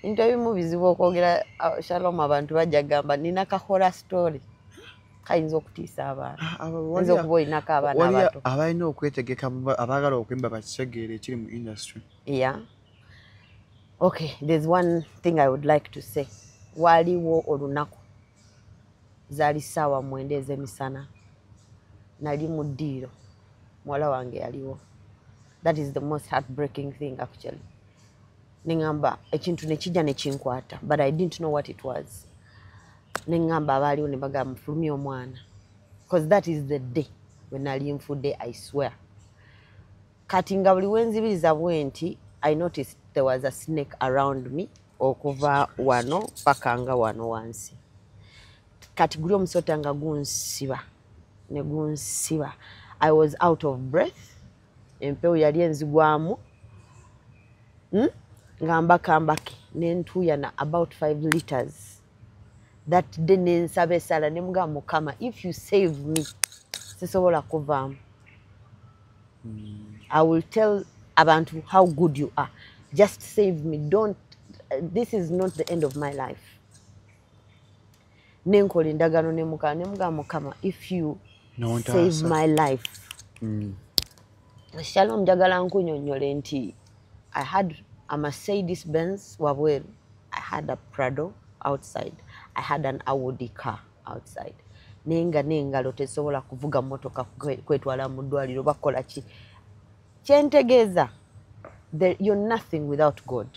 ebintu ebimu bizibu okwogera ah, shalom abantu bajja kugamba nina kahora story kayinza okutiisa abantu ah, ah, oyinza okuba olinako abaana abato abalina okwetegeka abaagala okwemba bakitegeere ekiri mu industry ya okay there's one thing i would like to say waliwo olunaku zaali ssaawa mwenda ez'emisana nali mu ddiiro muwala wange yaliwo that is the most heartbreaking thing actually neŋamba ekintu nekijja nekinkwata but i didn't know what it was neŋamba abaaliwo ne bagamba mufulumye omwana bcause that is the day wenali nfudde i swear kati nga buli wenzibiriza bwe nti i noticed there was a snake around me okuva wano paka nga wano wansi kati guli omusota nga gunsiba ne gunsiba i was out of breath empewo yali enzigwamu hmm? nga mbakambake nentuuyana about five liters that day nensaba esaala ne mugaa mukama if you save me sisobola kuvaamu hmm. i will tell abantu how good you are just save me don't this is not the end of my life nenkola endagaano ne mukama ne mugamba mukama if you save my life mm. shalom mm. njagala nkunyonyole nti i had a mercedes benz wabweru i had a prado outside i had an audi car outside naye nga n'engalo tezisobola kuvuga mmotoka kwetwala mu ddwaliro bakola ki kyentegeeza you're nothing without god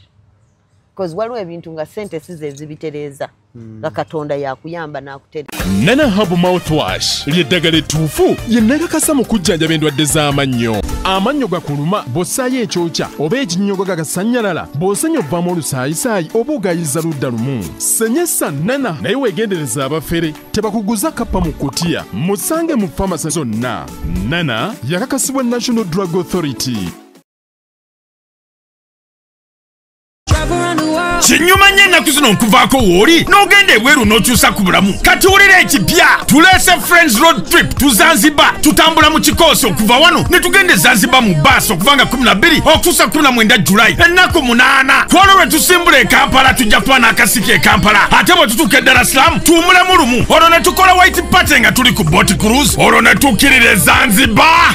because waliwo ebintu nga sente si zezibitereeza hmm. nga katonda yakuyamba n'akutereeza nana habu mouthwash lyeddagala ettuufu lye nakakasa mu kujjanjaba endwadde z'amannyo amannyo gakuluma bw'ossaayo ekyokya oba ekinnyogo gagasannyalala bw'osenya obvamu olusaayisaayi oba ogayiza ludda lumu senyesa nana naye weegendereza abafere tebakuguza kappa mu kutiya musange mu famasi zonna nana yakakasibwa national drug authority kinyuma nnyo ennaku zino nkuvaako wooli n'ogenda ebweru n'okyusa ku bulamu kati wulira ekipya tuleese friends road trip tu zanzibar tutambula mu kikoosi okuva wano ne tugenda e zanzibar mu baasi okuva nga 12 okutuusa 19 julayi ennaku 8 ku olwo lwe tusimbula e kampala tujja kuba n'akasiki e kampala ate bwe tutuuka e dara silamu tuwumulemu lumu olwo ne tukola white party nga tuli ku bot cruise olwo ne tukkirira e zanzibar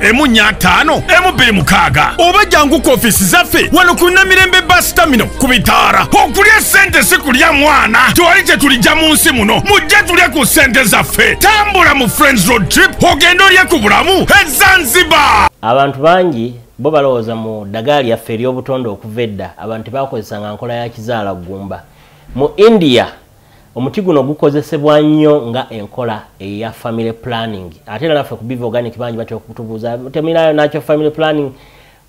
emu nya ataano emu bbiri mukaaga oba jangu ku ofiisi zaffe wano ku namirembe basitamino ku bitaara okulya ssente si kulya mwana twali kye tulijja mu nsi muno mujje tulye ku ssente zaffe tambula mu friends road trip ogenda olye ku bulamu ezanziba abantu bangi bo balowooza mu ddagala lyaffe ery'obutonde okuva edda abantu bakozesanga nkola ya kizaala ggumba mu india Omuti guno gukozesebwa nnyo nga enkola eya family planning ate era naffe ku Biva Organic bangi batera okutubuuza temulinayo nakyo family planning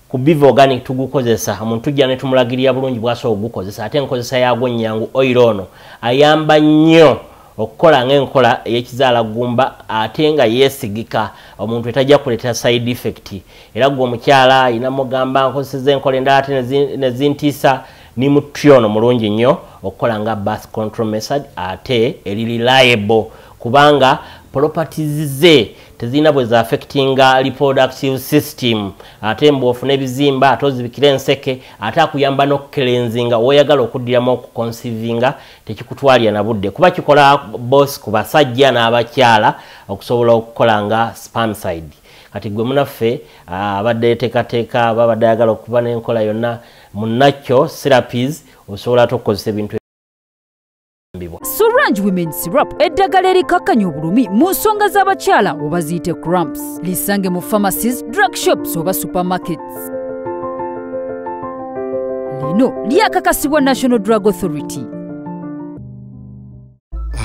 ku Biva Organic tugukozesa omuntu tujja ne tumulagirira bulungi bw'asobola okugukozesa ate enkozesa yaagwo nnyangu oil ono ayamba nnyo okukola ng'enkola ey'ekizaala ggumba ate nga yeesigika omuntu etajja kuleetera side effect era gwe omukyala ayina mugamba nkozeseza enkola endala ate ne zintiisa Nimu tree ono mulungi nnyo okukola nga birth control method ate eri reliable kubanga properties ze tezirina bwe za affectinga reproductive system ate mbu ofuna ebizimba ate ozibikira enseke ate akuyamba n'okukelenzinga woyagala okuddiramu okukonsivinga tekikutwalira na budde kuba kikola bos ku basajja n'abakyala okusobola okukola nga spamside kati gwe munaffe ah, abadde yetekateeka babadde ayagala okuba n'enkola yonna munnakyo sirapis osobola ate okukozesa ebintu Sorange Women Syrup eddagala erikakkanya obulumi mu nsonga z'abakyala oba ziyite cramps lisange mu pharmacies drug shops oba supermarkets lino lyakakasibwa national drug authority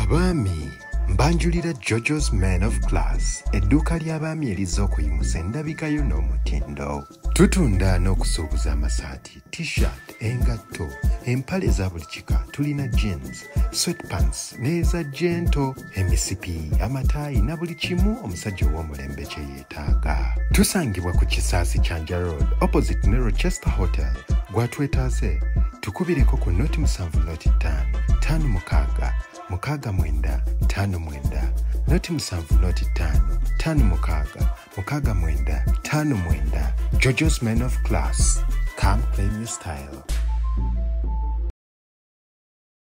abaami mbanjulira jojo's man of class edduuka ly'abaami erizza okuyimusa endabikayo n'omutindo tutunda n'okusuubuza amasaati t-shirt engatto empale eza buli kika tulina jeans sweatpants n'eza jento emisipi amataayi na buli kimu omusajja ow'omulembe kyeye gwetaaga tusangibwa ku kisaasi kya nja road opposite ne rochester hotel gwatwetaaze tukubireko ku noti musanvu noti ttaano ttaano mukaaga mukaaga mwenda ttaano mwenda noti musanvu noti ttaano ttaano mukaaga mukaaga mwenda ttaano mwenda jojos men of class come claim your style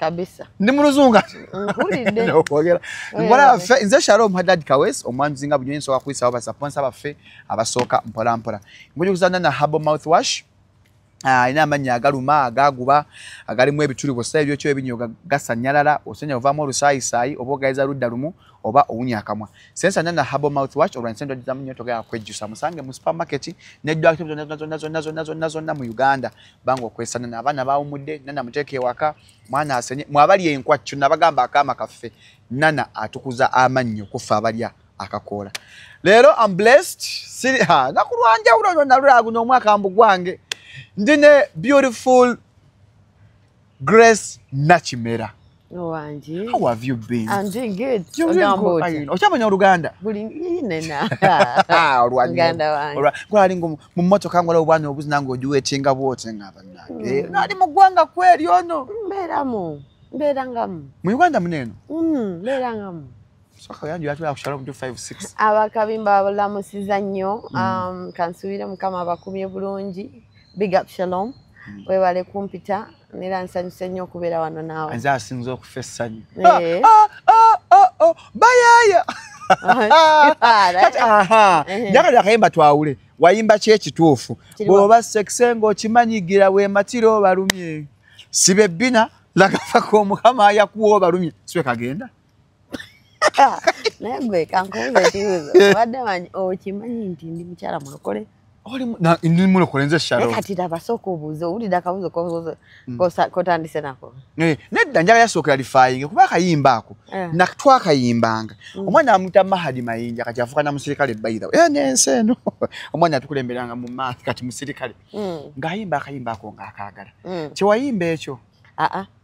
kabisa ndi mu luzungu mpulidde nokwogera nkola yaffe nze shalom hadad kawes omwanjuzi nga bunyonyi nsobola kuyisawo basaponsa baffe abasooka mpolampola nkujukuzana na habo mouth wash Ah, alina amannya agaluma agaguba agalimu ebituli bwosa ebyokyo ebinyo gasanyalala osenya ovaamu olusaayisaayi oba ogayiza ludda lumu oba owunya akamwa sensanya na habo mouth wash olwansendwagizamu nyo togera kwejjusa musange mu supermarket neddwakitozonna mu uganda banga okwesa nana abaana bawumudde nana muteeka ewaka mwana asenye mwabali enkwa kyo nabagamba akaama kaffe nana atukuza amannyo kuffe abalya akakoola leero am blessed siri ha nakulwanjawulo nalulaguno omwaka mbu gwange ndi ne beautiful Grace Nakimera. Wangi. How have you been? I'm doing good. You're doing good. Are you? Ochamanya Uganda. Buli ine na. Ah, Rwanda. Uganda wangi. Ora, kwa lingo mu moto kango leo bwana obuzi nango juwe chinga bote ngaba nange. Mm. Nali mugwanga kweli ono. Mbera mu. Mbera ngamu. Mu Uganda muneno. Mm, mbera ngamu. abakabimba babulamusiza nnyo mm. um, kansuubire mukama abakumye bulungi big up shalom mm. webale kumpita nera nsanyuse nnyo okubeera wano naawe nze asinza okufa essanyu eh. ah, ah, ah, oh, bayaaya njagala akayimba twawule wayimba ki ekituufu bw'oba sekise ng'okimanyigira wematira obalumye sibe bbina lagafako omukama yakuwa obalumye siwe kagenda naye gwe kankubuza ekibuzo obadde manyi okimanyi nti ndi mukyala mulokole ndi mulokole nze shalkati laba sooka obuuza owulira akabuzo hmm. kotandise nako eh, nedda njala yasookera lifayinge kuba akayimba ako eh. natwakayimbanga hmm. omwana amuta mahadi mayinja kati afuuka na musirikale baitha eh, nensi eno omwana atukulemberanga mu maaso kati musirikale hmm. ng'ayimba akayimba ako ng'akaagala kyewayimba ekyo aa ah, ah.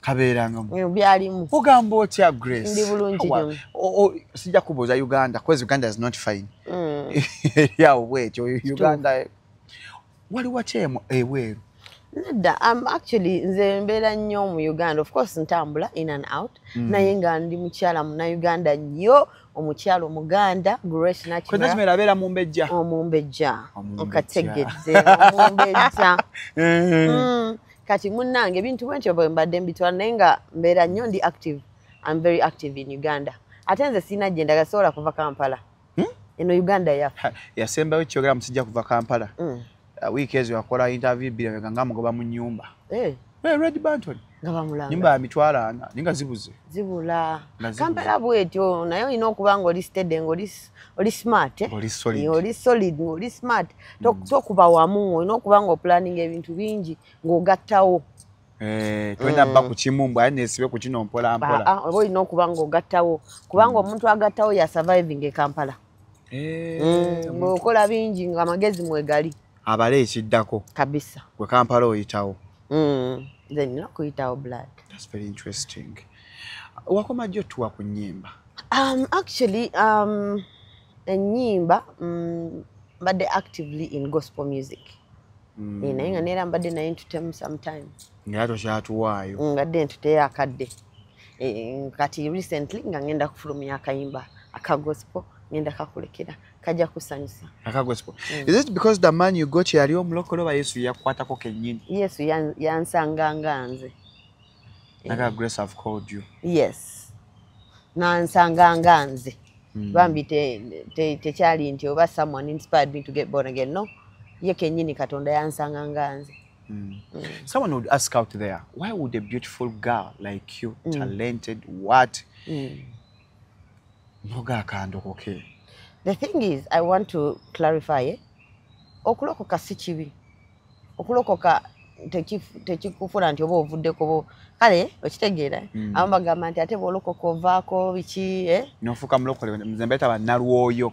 kabeerangamu byalimu ogamba otya grace ndi bulungi sijja kubuuza uganda bcause uganda is not fine mm. eryawo bwekyo uganda wali watya ebweru nedda am actually nze mbeera nnyo mu uganda of course ntambula in and out mm. naye nga ndi mukyala munauganda nnyo omukyala omuganda grace nakimera abeera mumbejja omumbejja okategedde omumbejja eh. mm. kati munnange ebintu bwentyo bwe mbadde mbitwala naye nga mbeera nnyo ndi active am very active in uganda ate nze sirina gye ndaga sobola kuva kampala hmm? eno uganda yaffe yasembayo kyogera musijja kuva kampala hmm. uh, wiiki ezo yakola interview bbiri nga nga mugoba mu nyumba eh. red banton nga bamulanga nyumba ya mitwalo ana ninga zibuze zibula kampala bwetyo naye olina okuba nga oli stede nga oli oli smart eh? oli solid oli solid oli smart to mm. to kuba wamu olina okuba nga planning ebintu bingi ng'ogattawo eh twenda mm. ba ku kimu mbu ayi nesibe ku kino mpola mpola ah obo ino kuba ngo gattawo kuba ngo mm. omuntu agattawo ya surviving e Kampala eh mm, ngo kola bingi nga magezi mwegali abale ekiddako kabisa gwe Kampala oyitawo mm then no kuyitawo blood that's very interesting wakoma jyo tuwa ku nyimba Um, actually, um, enyimba mm, mbadde actively in gospel music mm. Eh, naye nga neera mbadde naye ntutemu sometime naye tokyatuwaayo mm, mbadde ntuteyo akadde eh, kati recently nga ngenda kufulumya akayimba aka gospel ngenda kakulekera kajja kusanyusa aka gospel mm. is it because the man you got yali omulokole oba yesu yakwatako kenyini yesu yansanganga nze naga eh. grace have called you yes nansanga nga nze hmm. bambi tekyali nti oba someone inspired me to get born again no ye kenyini katonda yansanga nga nze Mm. Mm. Someone would ask out there, why would a beautiful girl like you, mm. talented, what, mm. noga kandokoke? The thing is, I want to clarify, eh? okulokoka si kibi. okulokoka tekikufula nti oba ovuddeko bo kale okitegeera hmm. abamu bagamba nti ate bwolokoka ovaako biki eh? nofuuka mulokole nze mbeeta banalwoyo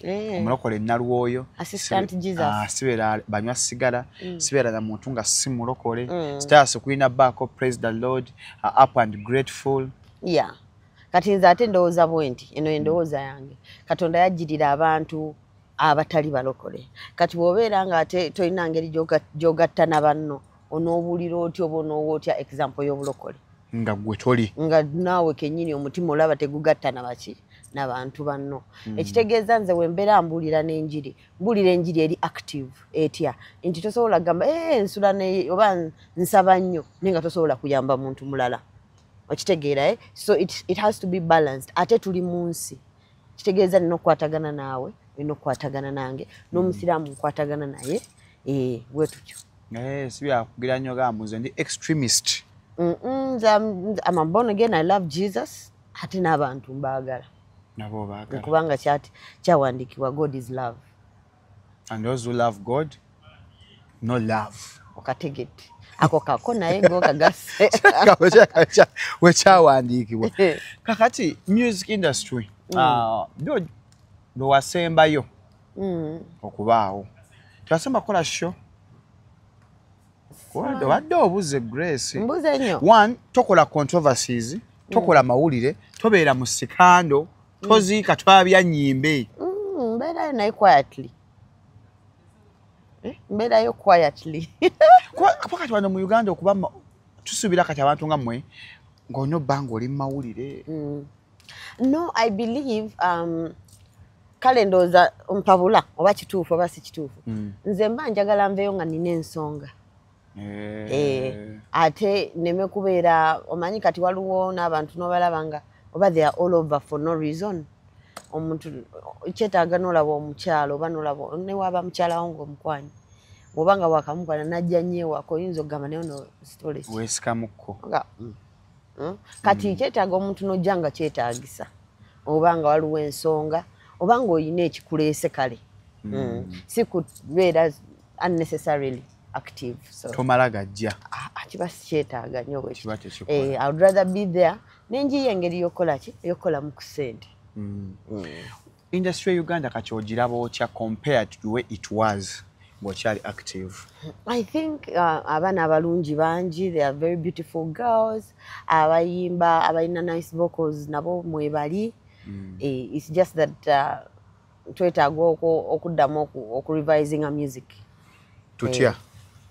eh. omulokole nalwoyo ah, sibeera banywa sigala hmm. sibeera na muntu nga si mulokole hmm. stars kulina baako praise the lord uh, up and grateful yeah kati nze ate ndowooza bwe nti eno endowooza yange katonda yajjirira abantu abatali balokole kati bwobeera nga ate tolina ngeri gyogatta na banno onoobulira otya oba onoowa otya example y'obulokole nga gwe toli nga naawe kenyini omutima olaba tegugatta na baki na bantu banno hmm. ekitegeeza nze wembeera mbuulira n'enjiri mbuulira enjiri eri active etya nti tosobola kugamba e eh, nsula oba nsaba nnyo naye nga tosobola kuyamba muntu mulala okitegeera eh? so it, it has to be balanced ate tuli mu nsi kitegeeza nina okukwatagana naawe olina okukwatagana nange n'omusiraamu mm. nkwatagana naye eh, wetutyo eh, si byakugira nnyo gambu nze ndi extremist amabon again i love jesus ate n'abantu mbaagala nabo baagala kubanga kyati kyawandiikibwa god is love and those who love god no love okategedde ako kako naye ngokagassewekyawandiikibwa kakati music industry mm. ah, do lwewasembayo mm. okubaawo tewasemba kukola sho obadde obuze grace one tokola controversies tokola mm. mawulire tobeera mu sikando toziika twabya nyimbe mm, mbeerayo naye quietly eh, mbeerayo quietly kuba kati wano mu uganda okuba tusuubira kati abantu nga mmwe ng'olina obbanga oli mu mawulire mm. no i believe um, kale ndowooza mpabula oba kituufu oba si kituufu mm. nze mba njagala nveeyo nga nina ensonga eh. Eh, ate neme kubeera omanyi kati waliwo n'abantu n'obalaba nga oba they are all over for no reason omuntu kyetaaga nolaba omukyalo oba nolaba newaaba mukyalawo ngaomukwanyi oba nga wakamukwana najja nyewako oyinza okugamba naye ono sitolesikamuko mm. hmm? kati mm. kyetaaga omuntu nojja nga kyetaagisa oba nga waliwo ensonga oba nga olina ekikuleese kale mm. hmm. si kubeera unnecessarily active so tomala gajja ah, ah, kiba sikyetaaga nyo bwekiba tekikola eh, i would rather be there nenjiyo engeri yokukola ki yokukola mu kusente mm. mm. industry ya uganda kati ogiraba otya compared to way it was ng'okyali active i think uh, abaana abalungi bangi they are very beautiful girls abayimba abalina nice vocals nabo mwebali mm. eh, it's just that uh, twetaaga okuddamu okurevisinga music tutya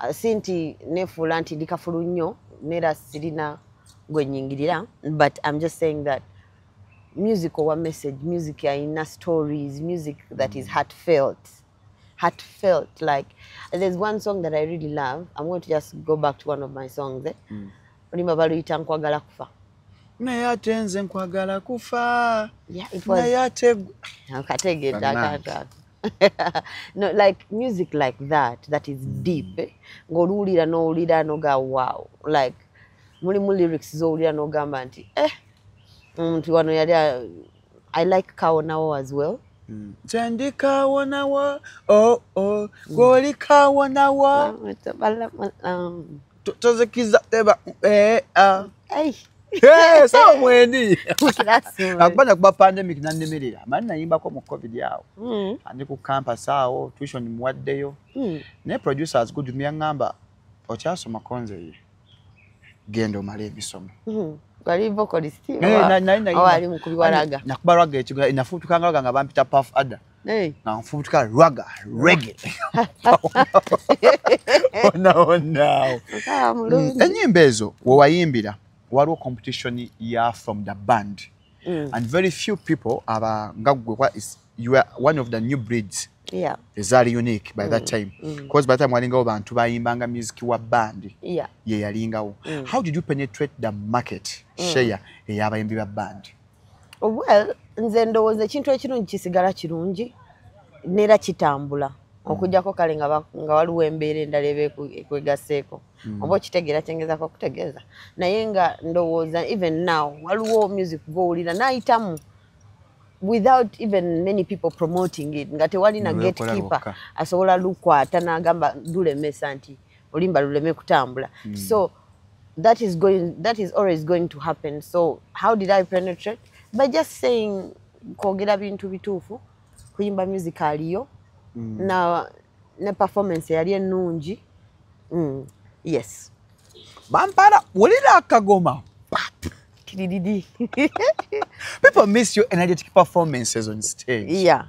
eh, si nti nefuula nti ndi kafulu nnyo neera sirina gwenyingirira but im just saying that music owa message music yalina stories music that is heart felt heart felt like there's one song that i really love i'm going to just go back to one of my songs eh? mm. olimba baluyita nkwagala kufa naye ate nze nkwagala kufa naye ate kategeeakantu no like music like that that is hmm. deep eh? ng'oluwulira n'owulira noga wow like mulimu lyrics z'owulira n'ogamba nti eh omuntu wano yali i like kawonawo as well hmm. kyendi kawonawo oo oh, oh. hmm. gwoli kawonawo um, tozikiza teba eh, ah. eh, sawa mwendi akubanja kuba pandemic nanemerera mani nayimbako mu covid awo hmm. andi ku campus awo tuition muwaddeyo hmm. naye producers good myaŋamba okyasoma konze ye genda omala emisomo hmm. nakubalwaga ekigo nafutukanga lwaga nga bampita paf ada Hey. Na mfubutuka raga, reggae. Ona ona. Ah, mulungi. Enyimba ezo wewayimbira waliwo competition ya from the band. Mm. And very few people aba ngagwe kwa is you are one of the new breeds. Yeah. Ezali unique by mm. that time. Mm. Because by the time walingawo bantu bayimbanga music wa band. Yeah. Ye yalingawo. Mm. How did you penetrate the market? Mm. Share eyabayimbi ba band. well nze ndowooza ekintu ekirungi kisigala kirungi neera kitambula hmm. okujjako kale nga waliwo embeera endala eba ekwegaseeko hmm. oba okitegeera kyengezako okutegeeza naye nga ndowooza even now waliwo music gwowulira nayitamu without even many people promoting it nga tewalina gatekeeper asobola lukwata nagamba lulemesa nti olimba luleme kutambula mm. so that is going that is always going to happen so how did i penetrate by just saying kwogera bintu bituufu kuyimba music aliyo mm. na ne performance yali ennungi mm. yes bampala wulira akagoma people miss your energetic performances on stage yeah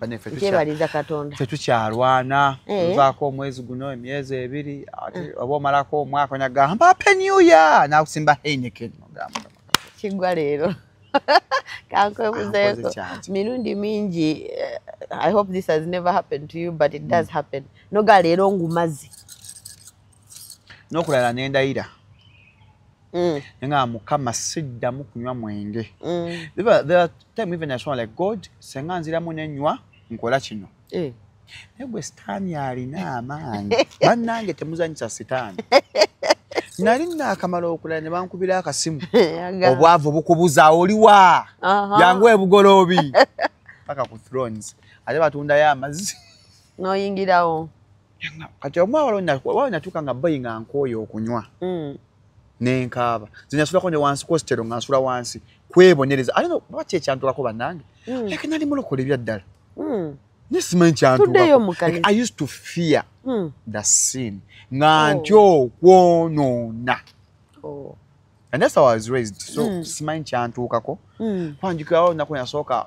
banefekyebaliza katonda tetukyalwana eh. vaako omwezi guno emyezi ebiri ati eh. oba omalako omwaka onagamba happy new year nakusimba heineken ogamba kigwa leero kankwebuzeeko mirundi mingi eh, i hope this has never happened to you but it does mm. happen noga leero ngumazi nokulala nendayira Mm. nga mukama siddamu kunywa mwenge mm. time even asoma like god senga nziramu nenywa nkola kino eh. naye gwe sitaani alina amaanyi bannange temuzanyisa sitaani nali nakamala okulala ne bankubira akasimu obwavu bukubuza oliwa yangu ebugoloobi paka ku thrones ate batundayo amazzi noyingirawo kati omwawalonatuuka nga bayi nga nkooyo okunywa mm. nenkaaba zinyasulako ne wansi kositero nga nsula wansi kwebonereza ate oba kyekyantulako bannange mm. like nali mulokola ebyaddala mm. naye simanyi kyantulakoi used to fear the sin nga oh. nti okwonoona oh. and that's how i was raised so simanyi kyantuukako kwanjukirawo naku nasooka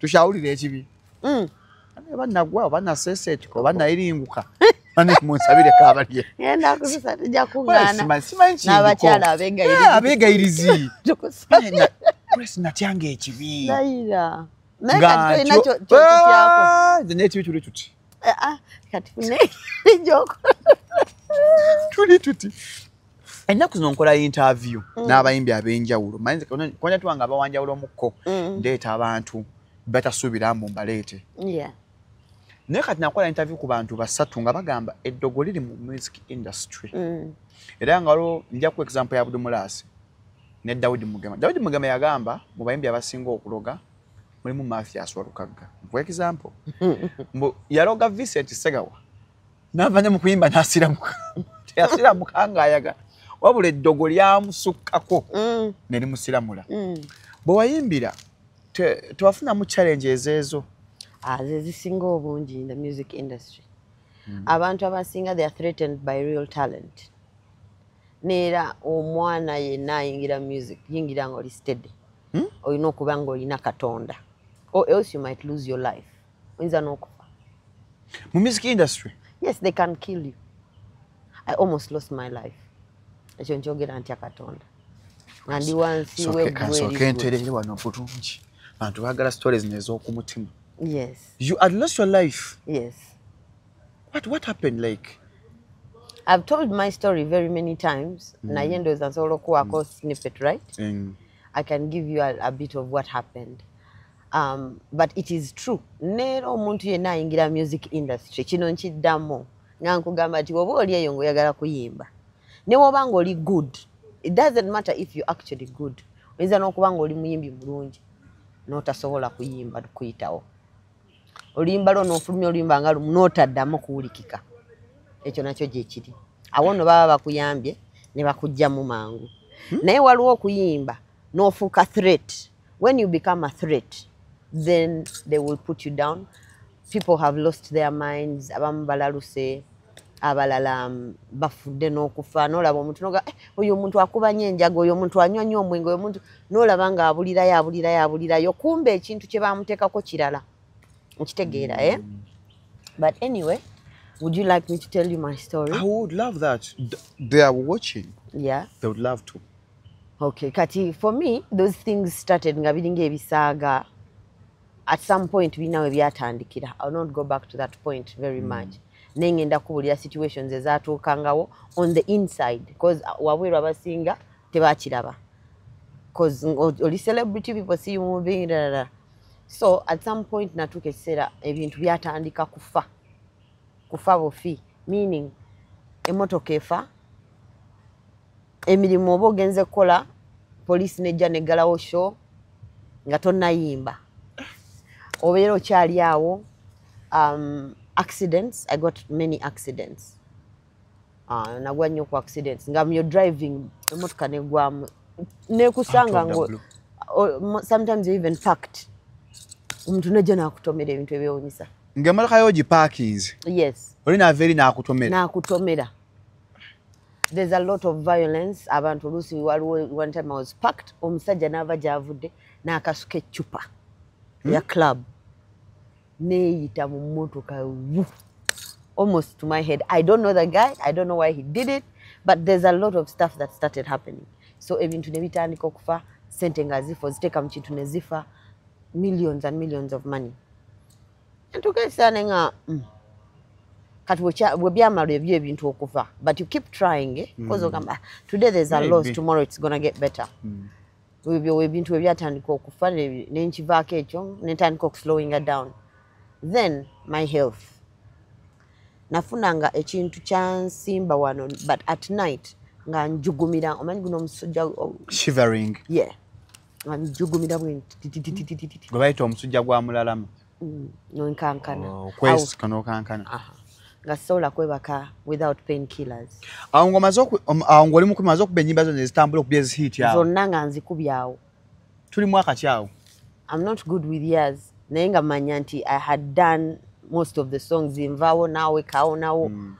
tukyawulira ekibi mm. oba nagwa oba naseseetika oba nayiringuka munsabire kabalye nabakyala abegayirizi natyanga ekibi nekibi tuli tuti ah, ah, tuli tuti ennaku zino nkola interview mm. n'abayimbi ab'enjawulo manyikonja tuwanga abawanjawulo omukko mm. ndeeta abantu batasuubira mbu mbaleete naye kati nakola interview ku bantu basatu nga bagamba eddogo liri mu music industry mm. era nga waliwo njaku example ya budumulaasi ne dawudi mugema dawudi mugema yagamba mu bayimbi abasinga okuloga mulimu mathias walukagga for example mbu yaloga vincent segawa navanya mu kuyimba nasiramuka teyasiramuka ngaayagala wabula eddogo lyamusukkako mm. ne limusiramula mm. bwe wayimbira tewafunamu challenge ezeezo ah, zezisinga obungi in the music industry mm. abantu abasinga they are threatened by real talent neera omwana yenna ayingira music yingira nga oli steady hmm? olina okuba nga olina katonda or else you might lose your life oyinza n'okufa mu music industry yes they can kill you i almost lost my life ekyo nkyogera ntya katonda nga ndi wansi webwkansooka enterere wano bulungi bantu bagala stories nez'okumutima yes you had lost your life yes what, what happened like I've told my story very many times. Mm. Na yendo is ansolo kuwa mm. snippet, right? Mm. I can give you a, a bit of what happened. um, but it is true neera omuntu yenna ayingira music industry kino nkiddamu nga nkugamba nti oba oli eyo ngaoyagala kuyimba newoba nga oli good it doesn't matter if you actually good oyinza n'okuba nga oli muyimbi mulungi notasobola kuyimba kuyitawo oluyimba lwo nofulumya oluyimba nga lumu notaddamu kuwulikika ekyo nakyo gyekiri awo no baba bakuyambye ne bakugjamu mangu hmm? naye waliwo okuyimba nofuuka threat When you become a threat, then they will put you down. People have lost their minds. Abamu balaluse, abalala um, bafudde n'okufa. N'olaba omuntu noga, eh, oyo omuntu akuba nnyo enjaga, oyo omuntu anywa nnyo omwenge, oyo omuntu n'olaba nga abulirayo, abulirayo, abulirayo. Kumbe ekintu kye baamuteekako kirala. Okitegeera, eh? Mm. But anyway, Would you like me to tell you my story? I would love that. They are watching. Yeah. They would love to. okay kati for me those things started nga biringa ebisaaga at some point birina we byatandikira ill not go back to that point very mm. much naye ngenda kubulira situations ezatuukangawo on the inside bcause uh, wabweru abasinga tebakiraba bcause oli celebrity people see you moving rara so at some point natuuka ekiseera ebintu byatandika kufa kufa bufi meaning emotoka efa emirimu oba ogenze kukola poliisi nejja neggalawo sho nga tonnayimba obeera okyali awo um, accidents i got many accidents uh, nagwa nnyo ku accidents nga myo driving emotoka negwamu nekusanga ngo sometimes you even packed omuntu nejja nakutomera ebintu ebyewunyisa nga emotoka yo ogipakinze yes oli naava eri nakutomera nakutomera there's a lot of violence abantu oluusi waliwo one time i was packed omusajja n'ava gy'avudde n'akasuka eccupa hmm? ya club neeyita mu mmotoka almost to my head i don't know the guy i don't know why he did it but there's a lot of stuff that started happening so ebintu ne bitandika okufa sente nga zifa oziteeka mu kintu ne zifa millions and millions of money entuka esaane nga mm. kati webyamalo ebyo ebintu okuva but you keep trying eh? mm. cause ogamba ah, today there's a loss tomorrow it's gonna get better mm. ebyo ebintu webyatandika okufa nenkivaako ekyo netandika okuslowinga down then my health nafunanga ekintu kyansimba wano but at night nga njugumira omanyi guno omusujja shivering yeah abijugumira bwe gwe bayita omusujja gwa mulalamu mm, nonkankana oh, okwesika nokankana nga sobola kwebaka without pain killers awo ngomaze um, awo ngoli mukumi maze okuba enyimba zona ezitambula okuba ezihit awo zonna nga nzikubyawo tuli mwaka kyawo i'm not good with years naye nga manya nti i had done most of the songs nvawo nawe kawo nawo mm.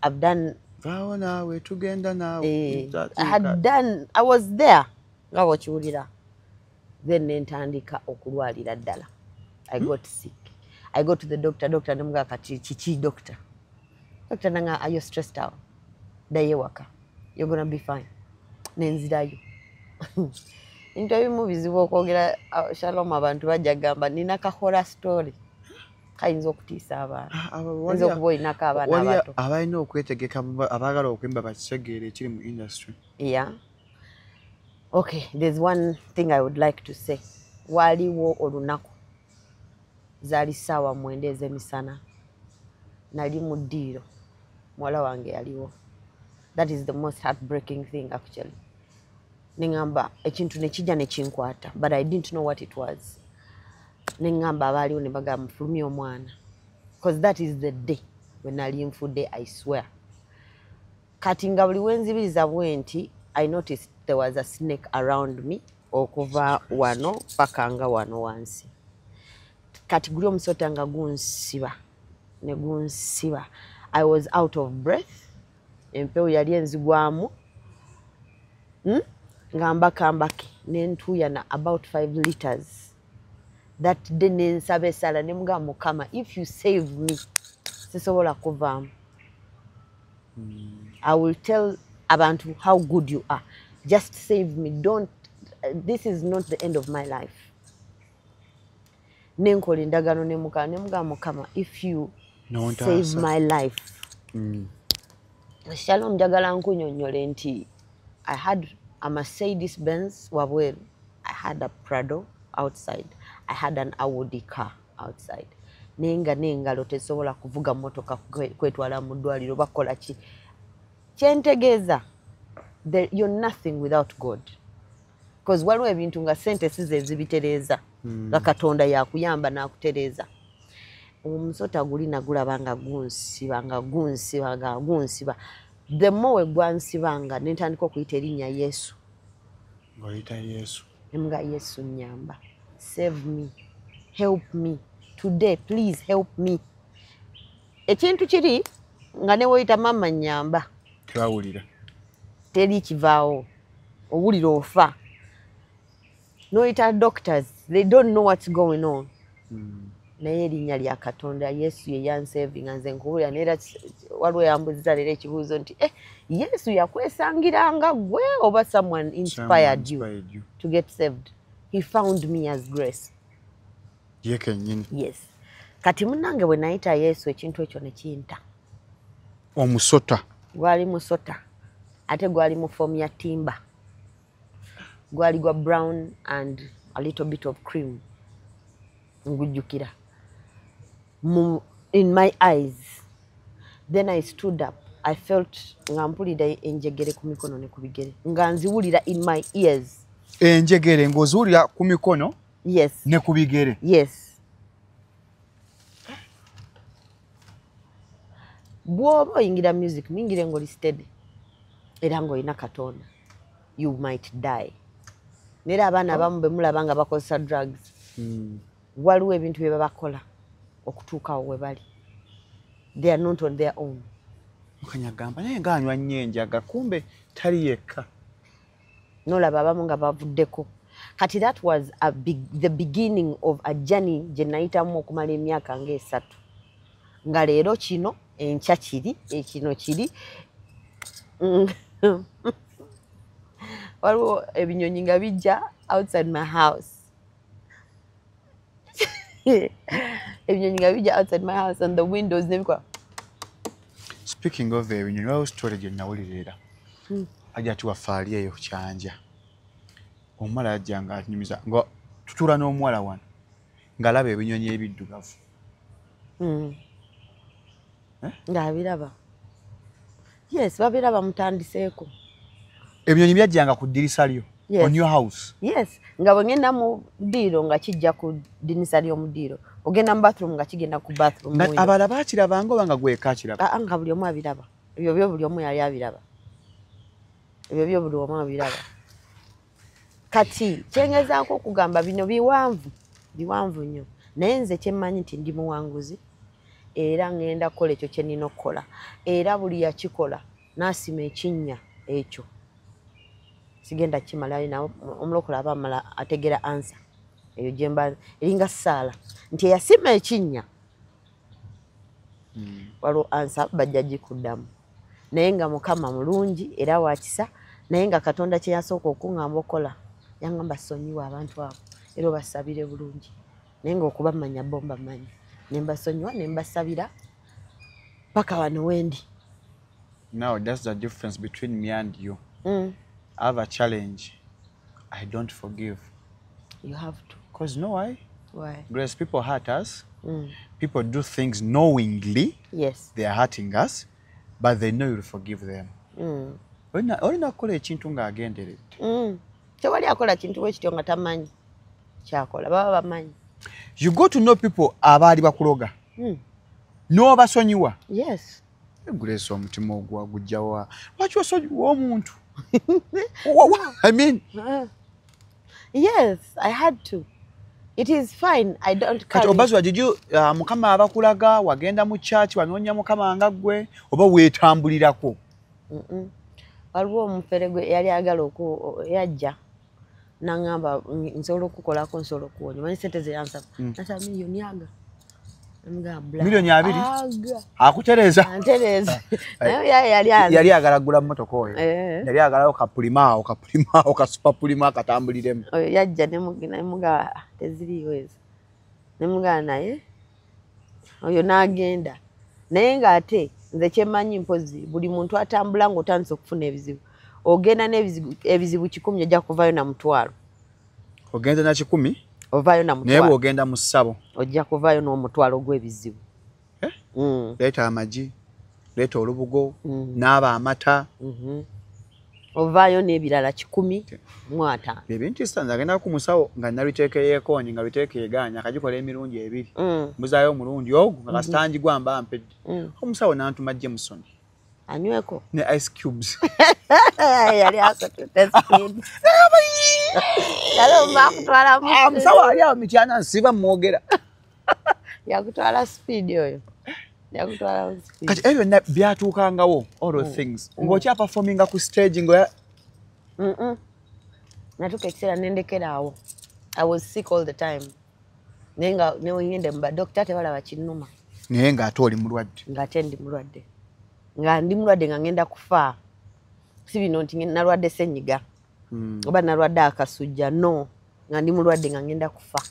i've done vawo nawe tugenda nawe eh, i had done i was there nga bwokiwulira then nentandika okulwalira ddala i hmm? got sick i go to the doctor doctor nemugaa kati kiki doctor doctor nanga ayo stressed out daye waka you're gonna be fine nenzirayo into ebimu bizibu okwogera uh, shalom abantu bajja gamba nina kahora story kayinza okutiisa abaana ah, ah, oyinza okuba olinako abaana abato abalina okwetegeka abaagala okwemba bakisegeera ekiri mu industry ya yeah. okay there's one thing i would like to say waliwo olunaku zaali ssaawa mwenda ez'emisana nali mu ddiiro muwala wange yaliwo that is the most heartbreaking thing actually neŋamba ekintu nekijja nekinkwata but i didn't know what it was neŋamba abaaliwo ne bagamba mufulumye omwana because that is the day wenali nfudde i swear kati nga buli wenzibiriza bwenti i noticed there was a snake around me okuva wano paka nga wano wansi kati guli omusota nga gunsiba ne gunsiba i was out of breath empewo yali enzigwamu hmm? nga mbakambake nentuyana about five liters that day nensaba esala nemugamba mukama if you save me sisobola kuvaamu i will tell abantu how good you are just save me don't this is not the end of my life nenkola endagaano nemukama nemugamba mukama if you no, save my life mm. shalom njagala nkunyonyole nti i had a mercedes benz wabweru i had a prado outside i had an audi car outside naye nga n'engalo tezisobola kuvuga mmotoka kwetwala mu ddwaliro bakola ki kyentegeeza you're nothing without god bcause waliwo ebintu nga sente size ezibitereeza hmm. nga katonda yakuyamba n'akutereeza omusota guli nagulaba nga gunsiba nga gunsiba nga gunsiba the more wegwansibanga nentandika okuyita erinnya yesu ngaoyita yesu nga yesu nyamba save me help me today please help me ekintu kiri nga newoyita mama nyamba tebawulira teri kivaawo owulira ofa noyita doctors they don't know what's going on hmm. naye erinnya lya katonda yesu yeyansevinga nze nkubulira naye era waliwo yambuziza leero ekibuuzo nti eh, yesu yakwesangiranga gwe oba someone inspired you to get saved he found me as grace ye kenyini yes kati munange bwe nayita yesu ekintu ekyo nekinta omusota gwali musota ate gwali mu foomu ya timba gwali gwa brown and a little bit of cream ngujjukira in my eyes then i stood up i felt nga mpulira enjegere ku mikono ne ku bigere nga nziwulira in my ears enjegere ng'oziwulira ku mikono yes ne ku bigere yes bwoba oyingira music muyingire ngoli steady era ngaolina katonda you might die nera abaana abamu oh. bemulaba nga bakozesa drugs hmm. waliwo ebintu byebabakola okutuukawo webali they are not on their own mukanya agamba naye nga anywa nnyo enjaga kumbe tali yekka nolaba abamu nga bavuddeko kati that was a big, the beginning of a journey gye nayitamu okumala emyaka ngaesatu nga leero kino enkya kiri ekino eh, kiri mm. waliwo ebinyonyi nga bijja outside my house ebinyonyi nga bijja outside my house and the windows nebikola speaking of ebinyonyi waliwo story gye nawulira era hmm. ajja tiwafaali eyo kyanja omuwala ajja nga anyumiza nga tutuula n'omuwala wano ngalaba ebinyonyi ebiddugavu hmm. eh? ngaabiraba yes babiraba mutandiseeko ebinyonyi byajjanga ku ddirisa lyo yes nga bwengenda mu ddiiro nga kijja ku ddinisa ly'omudiiro ogenda mu bathroom nga kigenda ku bathroom abala bakirabanga oba nga gwekakiraba ah, ah, nga buli omu abiraba ebyo byo buli omu yali abiraba ebyo byo buli omu abiraba kati kyengezaako okugamba bino biwanvu biwanvu nnyo naye nze kyemmanyi nti ndi muwanguzi era ŋŋenda kukola ekyo kye nnina okukola era buli yakikola n'asima ekinnya ekyo sigenda kimalayo nawe omulokola aba amala ategera ansa eyo gyemba eringa saala nti eyasima ekinnya hmm. waliwo ansa bajja gikuddamu naye nga mukama mulungi era wakisa naye nga katonda kyeyasooka okuŋamba okukola yaŋamba sonyiwa abantu abo era obasabire bulungi naye nga okubamanya bo mbamanyi nembasonyiwa nembasabira paka wano wendi now thats the difference between me and you mm. i have a challenge i don't forgive You have to. Because you know why? Why? Grace, people hurt us. Mm. People do things knowingly. Yes. They are hurting us, but they know you'll forgive them. Mm. olina kukola ekintu ng'agenderedde mm. tewali akola kintu wekityo nga tamanyi kyakola baba bamanyi you go to know people abaali bakuloga mm. n'obasonyiwa yes Grace omutima ogwa gujja wa lwaki osonyiwa omuntu I mean mm. yes I had to It is fine. I don't care. Kati obazwa did you uh, mukama abakulaga wagenda mu church wanonya mukama nga gwe oba wetambulirako. Mhm. Mm waliwo omufere gwe yali agala oku yajja nangamba nsobola okukolako nsobola okuwonya manyi sente zeyansaba mm. nasaba miliyoni aga miliyoni abiri akutereeza yali agala gula motoka oyo eh. yali agalawo kapulimaawo kapulimaawo kasupapulima akatambuliremu oyo yajja nemuga teziriyo ezo nemugaa naye oyo n'agenda naye ng'ate nze kyemanyi mpozi buli muntu atambula ng'otandisa okufuna ebizibu ogenda n'ebizibu kikumi ojja kuvayo na mutwalo ogenda na kikumi ovayo na mutwalo naye bw'ogenda mu ssabo ojja kuvayo n'omutwalo gw'ebizibu eh? mm. leeta amagi leeta olubugo mm. naaba amata mhm. ovaayo n'ebirala kikumi mu ataano ebintu isanze agenda ku musawo nga nabiteeka eyekoonyi nga biteeka egaanya akagikola emirundi ebiri mm. mbuzaayo omulundi ogwo nga kasita mhm. ngigwa mba mpedde mm. omusawo n'antuma jameson anyweko ne ice cubes yali asatutesaamusawaalyawo mityana nsiba mwogera yakutwala speed oyo yakutwala speed kati ebyo na byatukangawo all those mm. things mm. ngocha performing ku stage ngo mm mm natuka kisera nendekera awo i was sick all the time nenga ne wengende mba doctor te bala bachinuma naye nga ate oli mulwadde nga ate ndi mulwadde nga ndi mulwadde nga ngenda kufa si bino nti nalwadde senyiga mm. oba nalwadde akasujja no nga ndi mulwadde nga ngenda kufa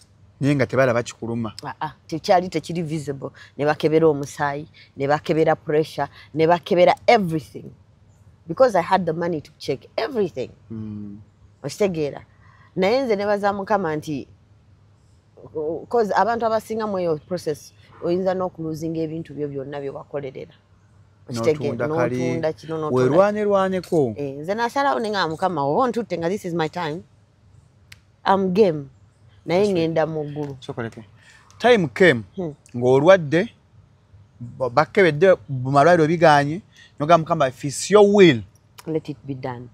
naye nga tebalaba kikuluma ah, ah, tekyali tekiri visible ne bakebera omusaayi ne bakebera pressure ne bakebera everything because i had the money to check everything mm. okitegeera naye nze nebaza mukama nti bcause abantu abasinga mu eyo process oyinza n'okuluzinga ebintu byo byonna byewakolerera werwanelwaneko eh, nze nasalawo nenga mukama oba ontutte nga this is my time am game naye ngenda mu ggulu time came hmm. ng'olwadde bakkebedde mu malwaliro biganye noga mukama if its your will let it be done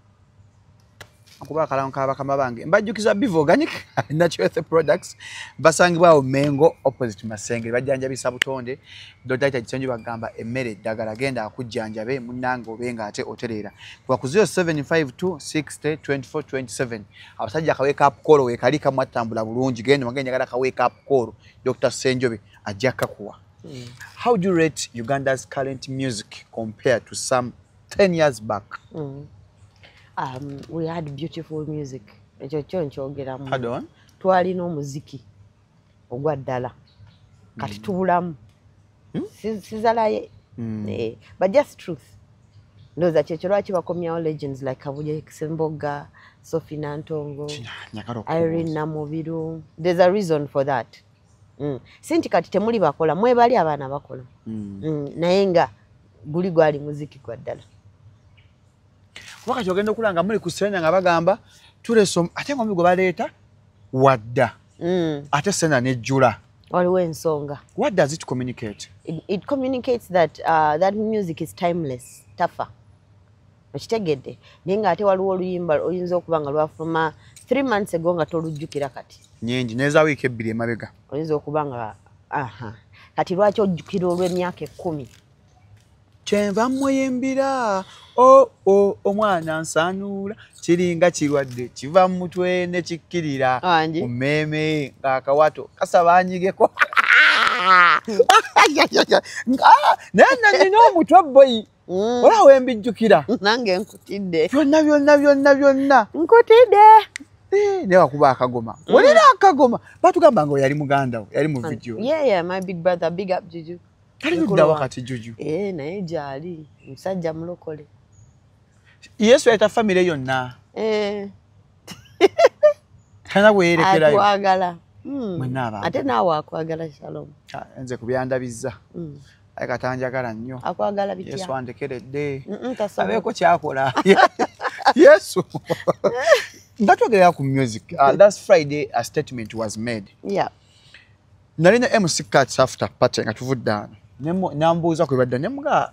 okuba akalango ka bakama bange mbajjukiza biv organic natural health products basangibwawo mengo opposite masengere bajjanjabisa butonde Dr. Kisenju bagamba emmere eddagala genda akujjanjabe munnange obe nga ate otereera kuba ku 0752602427 abasajja akaweekapukoolo weekali kamu attambula bulungi genda wage njagala akaweekapukoolo Dr. Senjobe ajja kakuwa hmm. how do you rate Uganda's current music compared to some 10 years back mm. um, we had beautiful music ekyo kyo nkyogeramu twalina omuziki ogwa ddala kati hmm. tubulamu hmm? sizalaye hmm. eh, but just truth ndoza kyekyo lwaki bakomyawo legends like kabuye sembogga sophie nantongo irene namubiru there's a reason for that mm. si nti kati temuli bakola mwebali abaana bakola mm. Mm. naye nga guli gwali muziki gwa ddala kuba kati ogenda okulanga muli ku senya nga bagamba tulesa ate ngomi gwe baleeta wadda mm. ate sena nejjula waliwo ensonga what does it communicate it, it communicates that uh, that music is timeless tafa okitegedde naye nga ate waliwo oluyimba oyinza okuba nga lwafuluma three months ago nga tolujjukira kati nyingi neza wiiki ebbiri emabega oyinza okuba nga aha kati lwaki ojjukira olw'emyaka ekkumi kyenva muyimbira o oh, o oh, omwana nsanuula kiringa kirwadde kiva mu mutwe ne kikkirira ku mmeeme ng'akawato kasaba anyigeko naye nanyina omutwe boyi mm. ola wembijjukira nange nkutidde byonna byonna byonna byonna nkutidde Eh, ne wakuba akagoma mm. olina akagoma batugamba nga oyali muganda wo yali mu video yeah, yeah, my big brother big up juju taliddawa kati juju eh, naye gyali musajja mulokole yesu yayita famire yonna eh. tana weyerekerayoatwagala hmm. ate naawe akwagala shalom ah, nze kubyandabizza hmm. aye katanjagala nnyo akwagala bityesu andekeredde abeeko kyakola yesu batwogerera ku music uh, last friday a statement was made yeah. nali ne mc cats after party nga tuvudde ano nambuuza kwe badda nemuga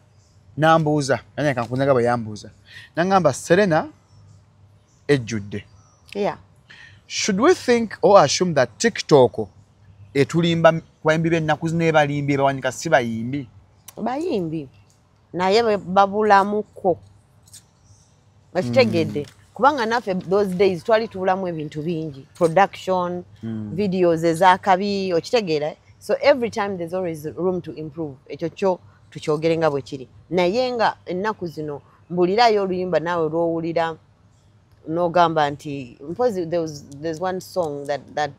nambuuza nanye kankunaga bwe yambuuza nangamba serena ejjudde yeah. should we think or assume that tiktok etulimba bayimbi bennaku zineebalimbye bawanika si bayimbi bayimbi naye babulamuko okitegedde mm. kubanga naffe those days twali tubulamu ebintu bingi production mm. videos ezakabi okitegeera so every time there's always room to improve ekyo kyo tukyogere nga bwe kiri naye nga ennaku zino mbulirayo oluyimba naawe lwowulira nogamba nti mpozi there's one song that, that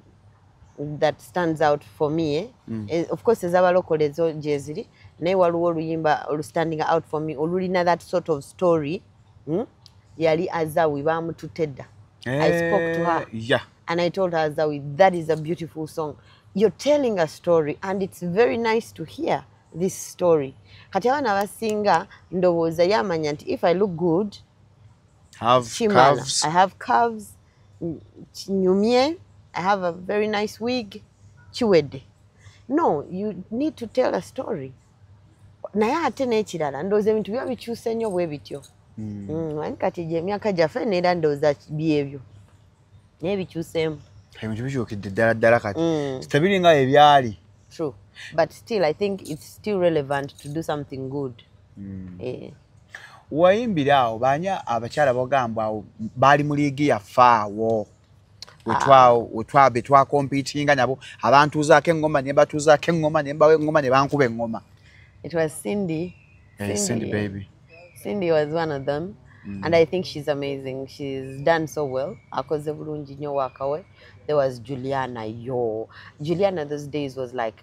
that stands out for me eh? mm. Eh, of course ezabalokole ezo gyeziri naye waliwo oluyimba olustanding out for me olulina that sort of story hmm? yali azawi bamututte dda i eh, spoke to her yeah. and i told her azawi that is a beautiful song you're telling a story and it's very nice to hear this story kati abaana abasinga ndowooza yamanya nti if i look good have, have curves. i have curves kinyumye i have a very nice wig kiwedde no you need to tell a story naye ate n'ekirala ndowooza ebintu biba bikyuse nnyo bwe bityo hmm. Hmm, ani kati gye emyaka gyaffe neera ndowooza byebyo naye bikyuseemu ebintu bikyukidde ddala ddala kati hmm. sitabiri nga ebyali true but still i think it's still relevant to do something good mm. eh. wayimbira awo baani abakyala bagamba awo baali mu liigi yaffe awo ah. betwakompitinga nabo abantuuzaako eŋŋoma ne batuuzaako eŋŋoma ne mbawa eŋŋoma ne bankuba eŋŋoma It was Cindy. Hey, eh, Cindy. Cindy, baby. Cindy was one of them. Mm. And I think she's amazing. She's done so well. Akoze bulungi nyo wakawe. There was Juliana, yo. Juliana those days was like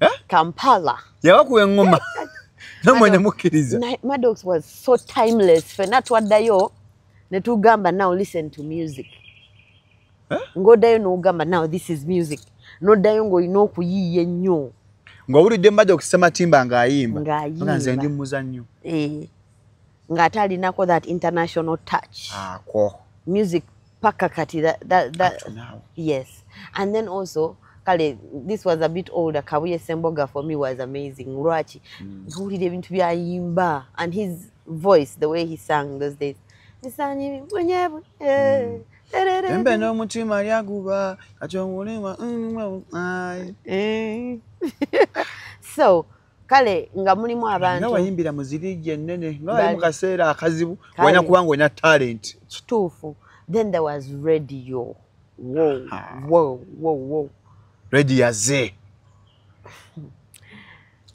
eh? kampala yabakuba eŋŋoma namwe ne mukkiriza madox was so timeless fena twaddayo ne tugamba now listen to music eh? ng'oddayo n'ogamba now this is music n'oddayo ng'olina okuyiiya ennyo ng'owulidde mbadde okusematimba ng'ayimba ng'ayimbanze ndi muzannyo eh. ng'ate alinako that international touch akwo ah, music paka kati that, that, that, yes and then also kale this was a bit older kabuye semboga for me was amazing lwaki mm. ntuwulira ebintu byayimba and his voice the way he sang those days misanyi mwenyebu eh, mm. embe n'omutima lyaguba kati omulima mm, eh. so kale nga mulimu abantu nga wayimbira mu zirigi ennene nga wali mu kaseera akazibu walina kuba nga olina talent kituufu then there was radio redi yaze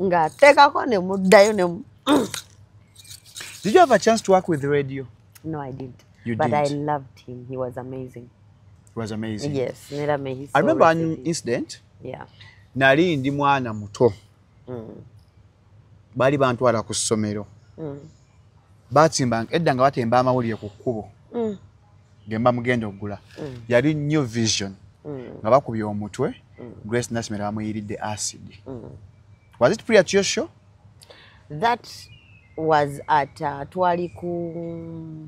nga ateekako ne muddayo ne Did you have a chance to work with radio? No, I didn't. You but didn't. I loved him. He was amazing. it was amazing yes nera me i remember an incident yeah nali ndi mwana muto mm. bali bantwala ku somero mm. batimba edda nga batemba amawulire ku kkubo mm. gemba mugenda okugula mm. yali new vision mm. nga bakubye omutwe mm. grace nasimera bamuyiridde acid mm. was it pre at your show that was at uh, twali ku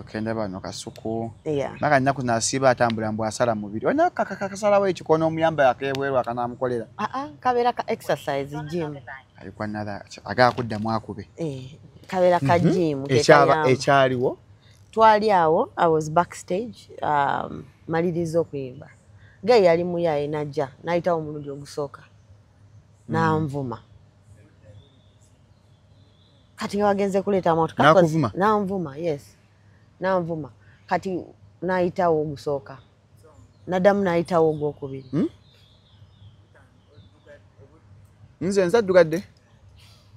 okenda bano kasuku maka nina kunasiba atambula mbu asala mubiri olina kakasalawo ekikono omuyamba yakebweru akanamukolera ah, ah, kabeera ka exercise gym agaa kuddamu akube eh, kabeera ka mhm. gym ekyaliwo twali awo i was backstage um, maliriza okuyimba ge yali muyaye najja nayitawo omulundi ogusooka mm. nanvuma mm. kati nga wagenze kuleeta amatu nakuvuma nanvuma yes nanvuma kati nayitawo ogusooka nadamu nayitawo ogwokubiri hmm? nze nzaddugadde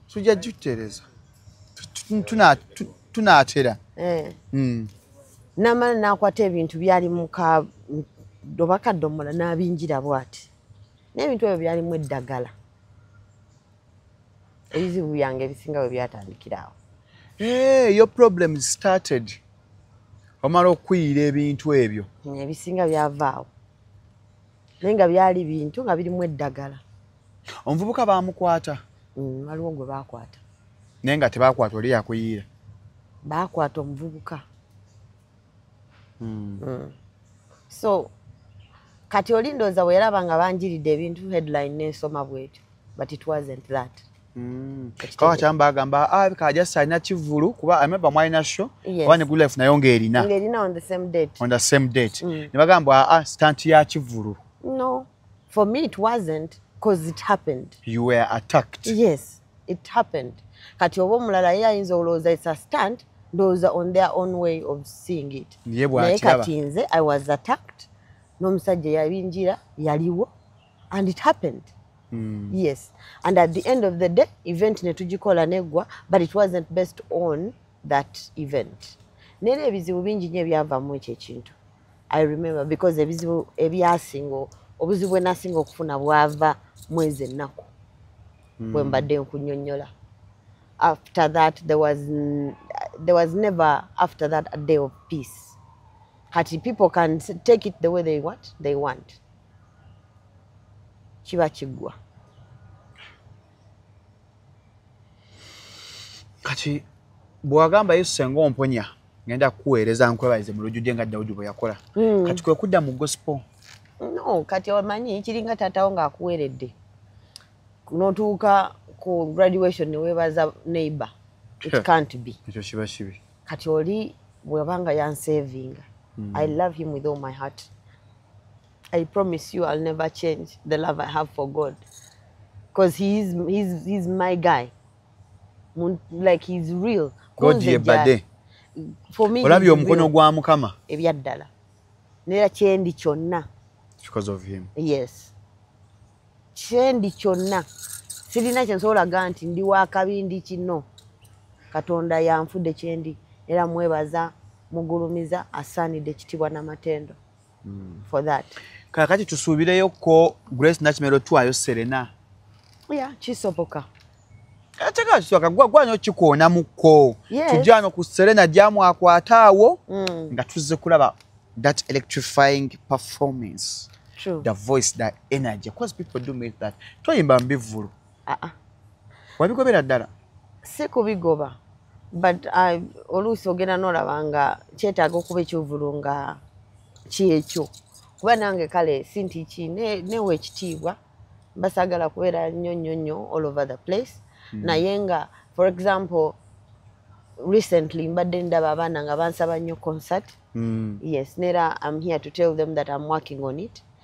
tujja jutereza tunatera eh. hmm. namala nakwata ebintu byali muka dobakaddomola nabinjira bwati nebintu ebyo byalimu eddagala ebizibu byange ebisinga we byatandikiraawo eh, yo problem started omala okuyiira ebintu ebyo ebisinga byavaawo naye nga byali bintu nga birimu eddagala omuvubuka bamukwata mm, waliwo gwe bakwata naye nga tebakwata oli yakuyiira bakwata omuvubuka hmm. Hmm. so kati oli ndooza bwe yalaba nga banjiridde ebintu headline nensoma bwekyo but it wasn't that hmm. kawa kyamba agamba ah, kajasa alina kivulu kuba ameba mwalina sho oba ne good life nayo ngaerina on the same date on the same date mm. nebagamba a ah, stant ya kivulu no for me it wasn't because it happened you were attacked yes it happened kati oba omulala ye ayinza olowooza it's a stunt ndowooza on their own way of seeing it naye kati nze i was attacked n'omusajja yabinjira yaliwo and it happened mm. yes and at the end of the day event netugikola neggwa but it wasn't based on that event nera ebizibu bingi nyo ebyavamu ekyo ekintu i remember because ebizibu ebyasinga obuzibu bwenasinga okufuna bwava mwezi ennaku hmm. bwe mbadde nkunyonyola after that there was, there was never after that a day of peace kati people can take it the way they want, they want. kiba kiggwa kati bwewagamba yesu senga omponya ngenda kukuweereza nkwebalize mu lujjudde nga dawudi bwe yakola hmm. kati kwe kudda mu gospo no kati omanyi kiringa taatawo ng'akuweeredde notuuka ku graduation neweebaza neighbor it can't be ekyo kiba kibi kati oli bwebanga yansevinga hmm. i love him with all my heart I promise you I'll never change the love I have for God because he is he's, he's my guy like he's real God yebade for me olabye omukono gwa mukama ebyaddala nera kyendi kyonna because of him yes kyendi kyonna sirina kyensobola ga nti ndi wakabi ndi kino katonda yanfude kyendi era mwebaza mugulumiza asaanidde ekitibwa namatendo mm. for that kakati tusuubireyo ko grace nakimero twayo serena ya kisoboka atekakagwagwanyo kikoona mukko tujano ku serena gyamwakwata awo mm. nga tuzze kulaba that electrifying performance True. the voice the energy because people do make that toyimba mbivulu ah, ah. wabigobera ddala si kubigoba but uh, oluusi ogenda nolaba nga kyetaaga okuba ekyovulu nga kyekyo kuba nange kale sinti ki newa ekitiibwa basagala kubeera nnyo nnyo nnyo all over the place mm. naye nga for example recently mbadde ndaba abaana nga bansaba nnyo concert mm. yes nera am here to tell them that am working on it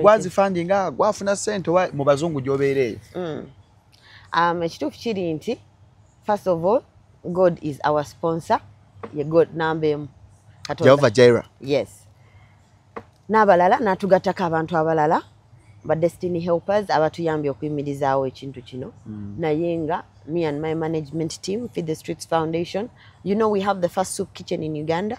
gwazifandinga gwafuna sente wa mu bazungu gyobeera eyo mm. um, ekituufu kiri nti first of all god is our sponsor ye god namba emu jehova jira yes n'abalala n'atugattako abantu abalala ba destiny helpers abatuyambye okuyimirizaawo ekintu kino mm. naye nga me and my management team feed the streets foundation you know we have the first soup kitchen in uganda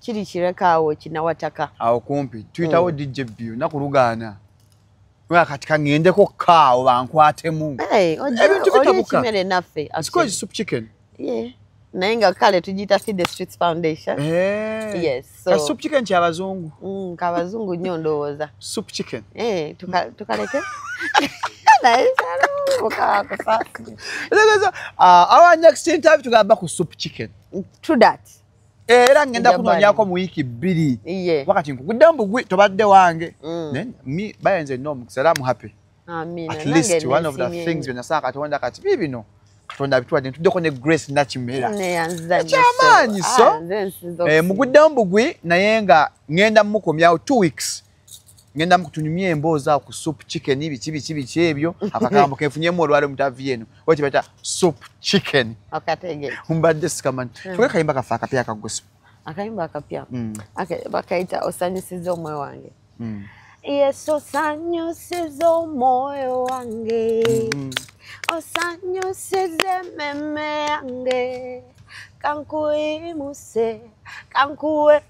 kiri kireka awo kinawataka awo kumpi tuyitawo mm. dj bu naku lugaana kati kaŋendeko kaawo bankwatemu ebintu bitabuka naye nga kale tugiyita feed the streets foundation hey. Eh. yes so soup chicken kya bazungu mm ka bazungu nyo ndowoza soup chicken eh tuka tukaleke naye sala uka kwa sasa lego uh, our next interview tugamba ku soup chicken true that Eh, era ngenda kunonyako mu wiiki bbiri wakati nkugudde mbugwi tobadde wange mm. mi bayenze ena omukisa era muhappy atleast one of the things byenasanga katonda kati bi bino katonda abituwadde ntuddeko ne grace nakimera ekyamaanyi so ah, eh, mugudde mbugwi naye nga ngenda mukomyawo two weeks ngenda mukutunyumya emboozi awo ku soup chicken biki biki biki ebyo akagambo kenfunyemu olwale omutavi eno oba kyebayita soup chicken mbadde sikamanyi hmm. kyokka kayimba kafe akapya akagusu akayimba akapya hmm. bakayita osanyusiza omwoyo hmm. wange yesu osanyusiza omwoyo wange osanyusiza ememe yange kankuyimuse kankuwe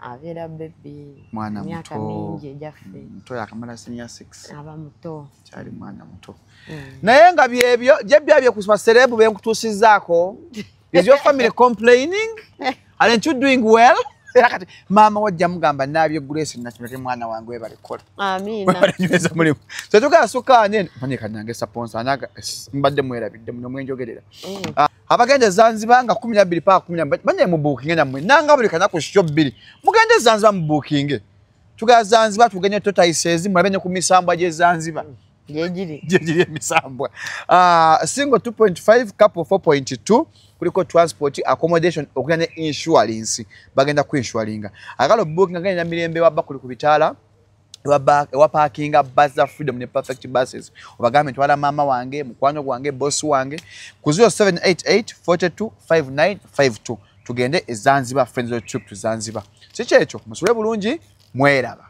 abeera bebi mwana myaka mingi egyaffe mm, muto yakamala senior six aba muto kyali mwana muto mm. naye nga byebyo gyebyabye ku baserebu benkutuusizaako is your family complaining aren't you doing well era kati maama wajja mugamba nabye grace nakimete mwana wange webale kola amiinanyweza mulimu tetugala sukaanene manyeka nange saponsa naga mbadde mwerabidde muno mwenjogerera mm. ah. abagenda ezanziba nga kumi nabbiri paka kumi nabbiri banye mubuukinge nammwe nanga buli kanaku sikyo bbiri mugenda ezanziba mubuukinge tugala zanziba tugenye totayiseezi mulabe ne ku misambwa gyezanziba gyegiri emisambwa ah, single 2.5 couple 4.2 kuliko transport accommodation okuna ne insurance bagenda ku insuringa agala obuukinga genda mirembe wabba kuli ku bitaala ewapakinga bus za freedom ne perfect buses obagambe ntwala maama wange mukwano gwange boss wange ku 0788 42 59 52 tugende ezanziba friends of trip to zanziba sikyekyo musule bulungi mweraba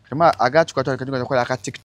kama agatukatwalikakola aka tiktok